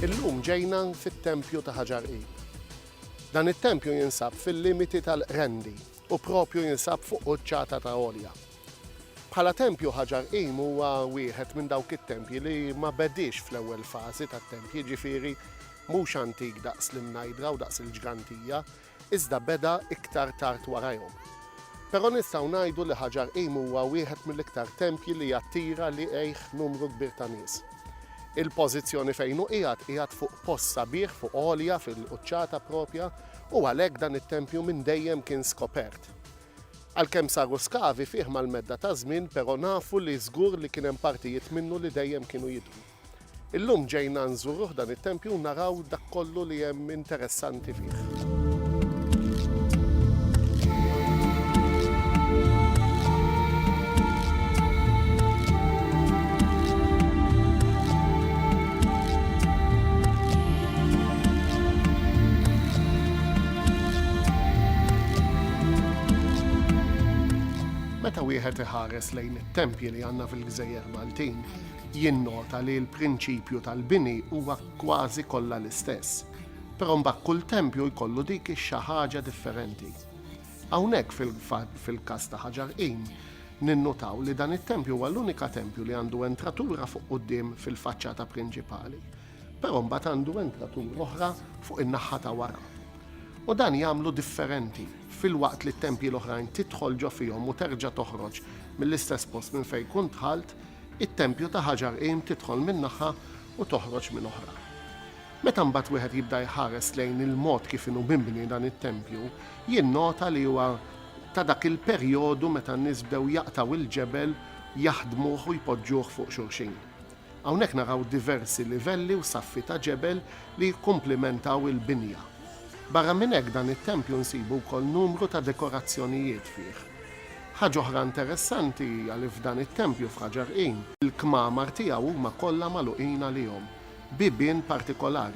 Illum ġejna fit-tempju ta' Ħaġar Qib. Dan it-tempju jinsab fil-limiti tal-Qrendi, u proprju jinsab fuq quċċata ta' għolja. Bħala tempju ħaġar qim huwa wieħed minn dawk it-tempji li ma bediex fl-ewwel fażi tat-tempji, jiġifieri mhux antik daqs l-imnajdra u daqs il-ġgantija, iżda beda iktar tard warajhom. Però nistgħu ngħidu li ħaġar qim huwa wieħed mill-iktar tempji li jattira liqgħih numru kbir ta' nies. Il-pożizzjoni fejn hu qiegħed qiegħed fuq post sabiħ fuq għolja fil-quċċata proprja, u għalhekk dan it-tempju minn dejjem kien skopert. Għalkemm saru skavi fih mal-medda taż-żmien però nafu li żgur li kien hemm partijiet minnu li dejjem kienu jidhru. Illum ġejna nżuruh dan it-tempju u naraw dak kollu li hemm interessanti fih. Meta wieħed iħares lejn it-tempji li għandna fil-gżejjer Maltin, jinnota li l-prinċipju tal-bini huwa kważi kollha l-istess. Però mbagħad kull tempju jkollu dik ix-xi ħaġa differenti. Hawnhekk fil-każ ta' Ħaġar Qim, ninnutaw li dan it-tempju huwa l-unika tempju li għandu entratura fuq quddiem fil-faċċata prinċipali. Però mbagħad għandu entratura oħra fuq in-naħħa ta' wara. U dan jagħmlu differenti filwaqt li t-tempji l-oħrajn tidħol ġo fihom u terġa' toħroġ mill-istess post minn fejn kunt dħalt, it-tempju ta' ħaġar qim tidħol minn naħa u toħroġ minn oħra. Meta mbagħad wieħed jibda jħares lejn il-mod kif inhu mibni dan it-tempju, jinnota li huwa ta' dak il-perjodu meta n-nies bdew jaqtgħu l-ġebel, jaħdmuh u jpoġġuh fuq xulxin. Hawnhekk naraw diversi livelli u saffi ta' ġebel li jikkumplimentaw il-binja. Barra minn hekk dan it-tempju nsibu wkoll numru ta' dekorazzjonijiet fih. Ħaġa oħra interessanti hija li f'dan it-tempju f'Ħaġar Qim, il-kmamar tiegħu huma kollha magħluqin għalihom bibien partikolari.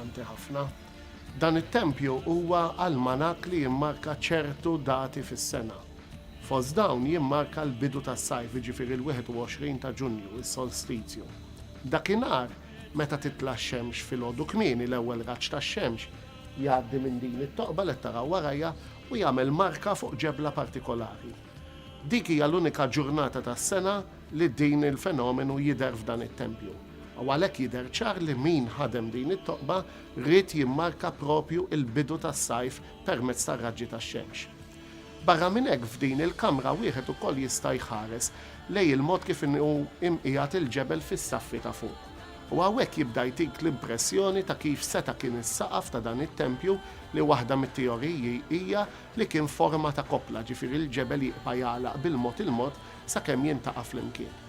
Importanti ħafna. Dan it-tempju huwa almanak li jimmarka ċertu dati fis-sena. Fost dawn jimmarka l-bidu tas-sajf, jiġifieri l-21 ta' Ġunju, is-solstizju. Dakinhar, meta titla' x-xemx filgħodu kmieni, l-ewwel raġġ tax-xemx jgħaddi minn din it-toqba li qed taraw warajja u jagħmel marka fuq ġebla partikolari. Dik hija l-unika ġurnata tas-sena li din il-fenomenu jidher f'dan it-tempju. u għalhekk jidher ċar li min ħadem din it-toqba ried jimmarka proprju l-bidu tas-sajf permezz tar-raġġi tax-xemx. Barra minn hekk f'din il-kamra wieħed ukoll jista' jħares lejn il-mod kif inhu mqiegħed il-ġebel fis-saffi ta' fuq u hawnhekk jibda jtik l-impressjoni ta' kif seta' kien is-saqaf ta' dan it-tempju li waħda mit-teoriji hija li kien forma ta' koppla ġifieri l-ġebel jibqa' jagħlaq bil-mod il-mod sakemm jintaqa' flimkien.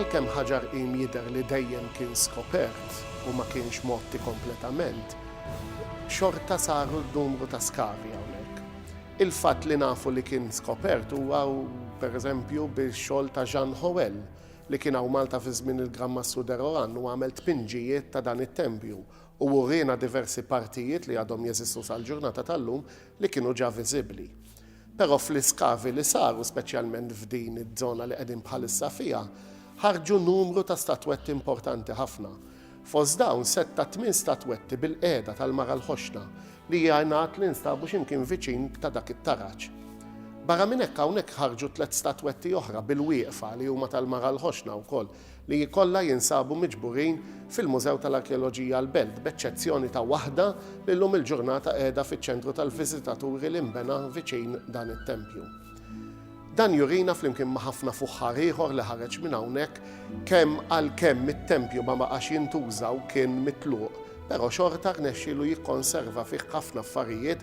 Għalkemm ħaġar qim jidher li dejjem kien skopert u ma kienx mgħotti kompletament, xorta saru numru ta' skavi hawnhekk. Il-fatt li nafu li kien skopert huwa, per eżempju, bix-xogħol ta' Jean Hoël, li kien hawn Malta fi żmien il-Gran Massù de Rohan u għamel tpinġijiet ta' dan it-tempju u wriena diversi partijiet li għadhom jeżistu sal-ġurnata tal-lum li kienu ġa viżibbli. Però fl-iskavi li saru speċjalment f'din iż-żona li qegħdin bħalissa fiha, ħarġu numru ta' statwetti importanti ħafna. Fost dawn sett ta' tmien statwetti bil-qiegħda tal-Mara l-Ħoxna li jingħad li nstabu xi mkien viċin ta' dak it-taraġ. Barra minn hekk hawnhekk ħarġu tliet statwetti oħra bil-wieqfa li huma tal-Mara l-Ħoxna wkoll li jkollha jinsabu miġburin fil-Mużew tal-Arkeoloġija l-Belt, b'eċċezzjoni ta' waħda li llum il-ġurnata qiegħda fiċ-ċentru tal-viżitaturi li nbena viċin dan it-tempju. Dan jurina flimkien ma' ħafna fuħħar ieħor li ħareġ minn hawnhekk kemm għalkemm it-tempju ma baqax jintuża u kien mitluq, però xorta rnexxielu jikkonserva fih ħafna affarijiet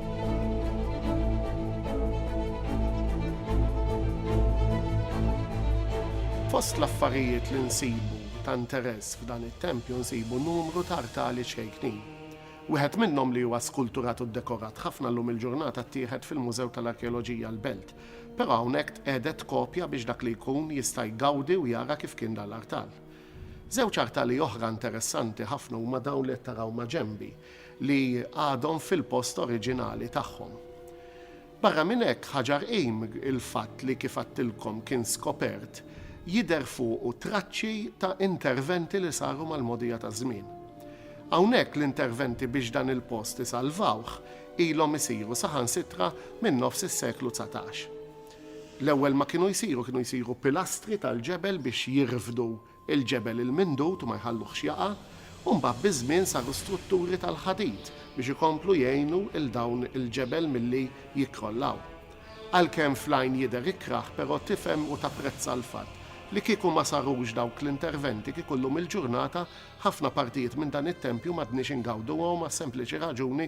Fost l-affarijiet li nsibu ta' interess f'dan it-tempju nsibu numru ta' artali ċkejknin. Wieħed minnhom li huwa skulturat u ddekorat ħafna llum il-ġurnata ttieħed fil-Mużew tal-Arkeoloġija l-Belt, però hawnhekk tqegħdet kopja biex dak li jkun jista' jgawdi u jara kif kien dan l-artal. Żewġ artali oħra interessanti ħafna huma dawn li qed taraw maġenbi. li għadhom fil-post oriġinali tagħhom. Barra minn hekk, ħaġar qim il-fatt li kif għadtilkom kien skopert jidher fuqu traċċi ta' interventi li saru mal-mogħdija taż-żmien. Hawnhekk l-interventi biex dan il-post isalvawh ilhom isiru saħansitra minn nofs is-seklu dsatax. L-ewwel ma kienu jsiru, kienu jsiru pilastri tal-ġebel biex jirfdu il-ġebel il-mindud u ma jħalluhx jaqa', u mbagħad biż-żmien saru strutturi tal-ħadid biex ikomplu jgħinu 'l dawn il-ġebel milli jikkrollaw. Għalkemm fl-għajn jidher ikrah però tifhem u tapprezza l-fatt li kieku ma sarux dawk l-interventi kieku llum il-ġurnata ħafna partijiet minn dan it-tempju m'għadniex ingawduhom għas-sempliċi raġuni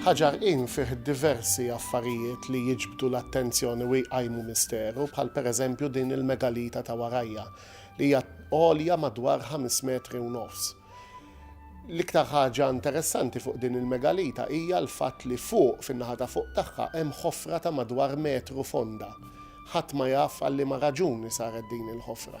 Ħaġar Inn fih diversi affarijiet li jiġbdu l-attenzjoni u jqajmu misteru, bħal pereżempju din il-megalita ta' warajja, li hija għolja madwar ħames metri u nofs. L-iktar ħaġa interessanti fuq din il-megalita hija l-fatt li fuq, fin-naħa ta' fuq tagħha, hemm ħofra ta' madwar metru fonda. Ħadd ma jaf għal liema raġuni saret din il-ħofra.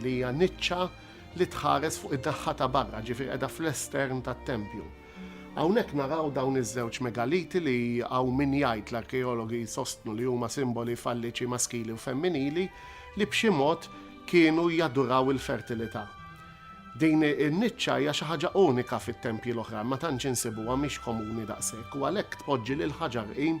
li hija niċċa li tħares fuq in-naħa ta' barra, ġifieri qiegħda fl-estern tat-tempju. Hawnhekk naraw dawn iż-żewġ megaliti li hawn min jgħid l-arkeologi jsostnu li huma simboli falliċi maskili u femminili li b'xi mod kienu jaduraw il-fertilità. Din in-niċċa hija xi ħaġa unika fit-tempji l-oħrajn, ma tantx insibuha mhix komuni daqshekk u għalhekk tpoġġi lil Ħaġar Qim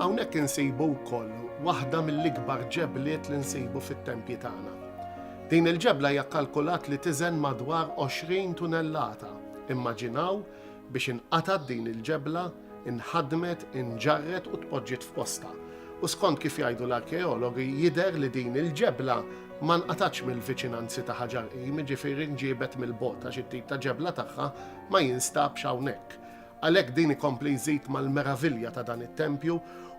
Hawnhekk insibu wkoll waħda mill-ikbar ġebliet li nsibu fit-tempji tagħna. Din il-ġebla hija kkalkulat li tiżen madwar 20 tunellata. Immaġinaw biex inqatgħet din il-ġebla, inħadmet, inġarret u tpoġġiet f'postha. U skont kif jgħidu l-arkeologi jidher li din il-ġebla ma nqatgħatx mill-viċinanzi ta' Ħaġar Qim, jiġifieri nġiebet mill-bogħod għax it-tip ta' ġebla tagħha ma jinstabx hawnhekk. Għalhekk din ikompli jżid mal-meravilja ta' dan it-tempju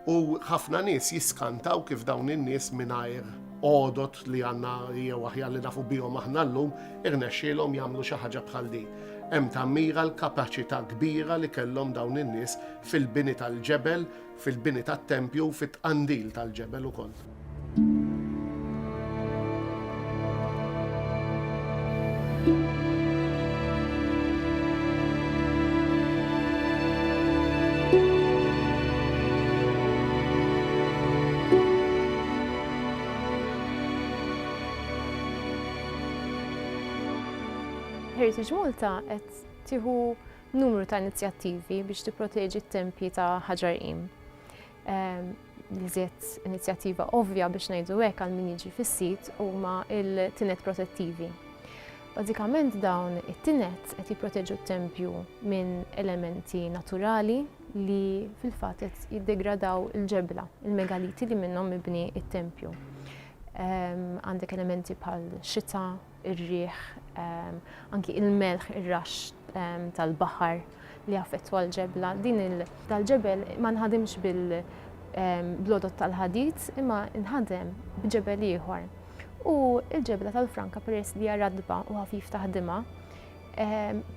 u ħafna nies jiskantaw kif dawn in-nies mingħajr għodod li għandna jew aħjar li nafu bihom aħna llum irnexxielhom jagħmlu xi ħaġa bħal din. Hemm tammira l-kapaċità kbira li kellhom dawn in-nies fil-bini tal-ġebel fil-bini tat-tempju u fit-tqandil tal-ġebel ukoll. Heritage Malta qed tieħu numru ta' inizjattivi biex tipproteġi t-tempji ta' ħaġarqim. Ehm, l-iżjed inizjattiva ovvja biex ngħidu hekk għal min jiġi fis-sit huma il-tinet protettivi. Bażikament dawn it-tinet qed jipproteġu t-tempju minn elementi naturali li fil-fatt qed jiddegradaw il-ġebla, il-megaliti li minnhom mibni it-tempju. Ehm, għandek elementi bħal xita, ir-riħ, anki il-melħ, ir-raxx tal-baħar li jaffettwa l-ġebla. Din il-dal-ġebel ma nħadimx bil-blodot tal-ħadid imma nħadem b'ġebel ieħor. U l-ġebla tal-Franka peress li hija radba u ħafif taħdimha,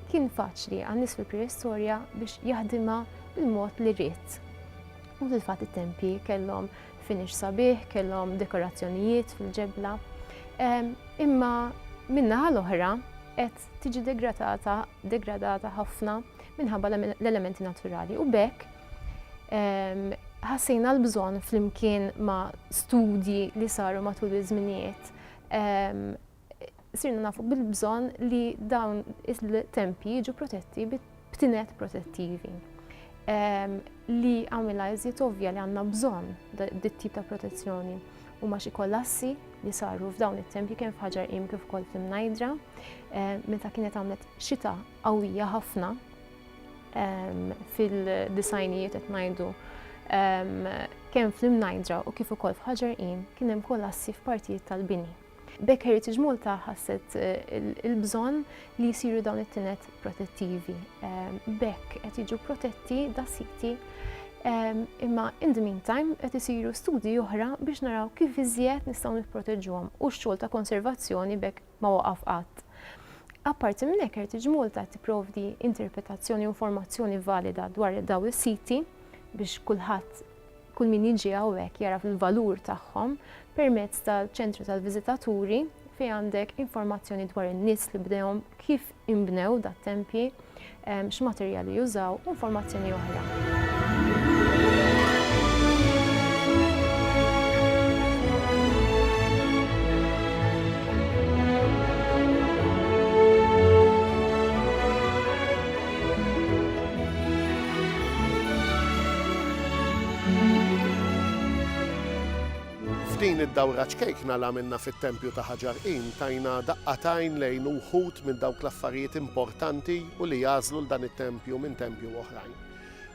kien faċli għan nies fil-preistorja biex jaħdimha bil-mod li ried. U fil-fatt it-tempji kellhom Finish sabiħ, kellhom dekorazzjonijiet fil-ġebla. Imma min-naħa l-oħra qed tiġi degradata, degradata ħafna minħabba l-elementi naturali. U bekk ħassejna l-bżonn flimkien ma' studji li saru matul iż-żminijiet sirna nafu bil-bżonn li dawn il-tempji jiġu protetti b'tinet protettivi ehm, li għamilha iżjed ovvja li għandna bżonn dit tip ta' protezzjoni u ma xi kollassi li saru f'dawn it-tempji kien f'ħaġar im kif ukoll f'imnajdra eh, meta kienet għamlet xita qawwija ħafna ehm, fil-disajnijiet qed ngħidu ehm, kemm fl-imnajdra u kif ukoll f'ħaġar im kien hemm kollassi f'partijiet tal-bini. B'hekk Heritage Malta ħasset il-bżonn li jsiru dawn it-tinet protettivi. B'hekk qed jiġu protetti da siti imma in the meantime qed isiru studji oħra biex naraw kif iżjed nistgħu nipproteġuhom u x-xogħol ta' konservazzjoni b'hekk ma waqaf qatt. Apparti minn hekk Heritage Malta tipprovdi interpretazzjoni u informazzjoni valida dwar dawn is-siti biex kulħadd Kull min jiġi hawnhekk jagħraf il-valur tagħhom permezz tal-ċentru tal-viżitaturi fejn għandek informazzjoni dwar in-nies li bdewhom, kif inbnew dat-tempji, ehm, x'materjali jużaw u informazzjoni oħra. F'din id-dawra ċkejkna li għamilna fit-Tempju ta' Ħaġar Qim tajna daqqa t'għajn lejn uħud minn dawk l-affarijiet importanti u li jagħżlu 'l dan it-tempju minn tempju oħrajn.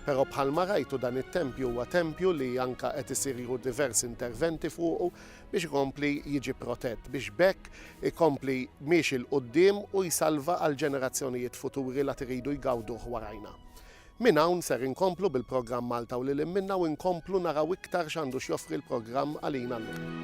Però bħalma rajtu dan it-tempju huwa tempju li anke qed isiru diversi interventi fuqu biex ikompli jiġi protett biex b'hekk ikompli miexi 'l quddiem u jsalva għall-ġenerazzjonijiet futuri la tiridu jgawduh warajna. Minn hawn ser inkomplu bil-programm Malta u lil hinn minnha u nkomplu naraw iktar x'għandu x'joffri l-programm għalina llum.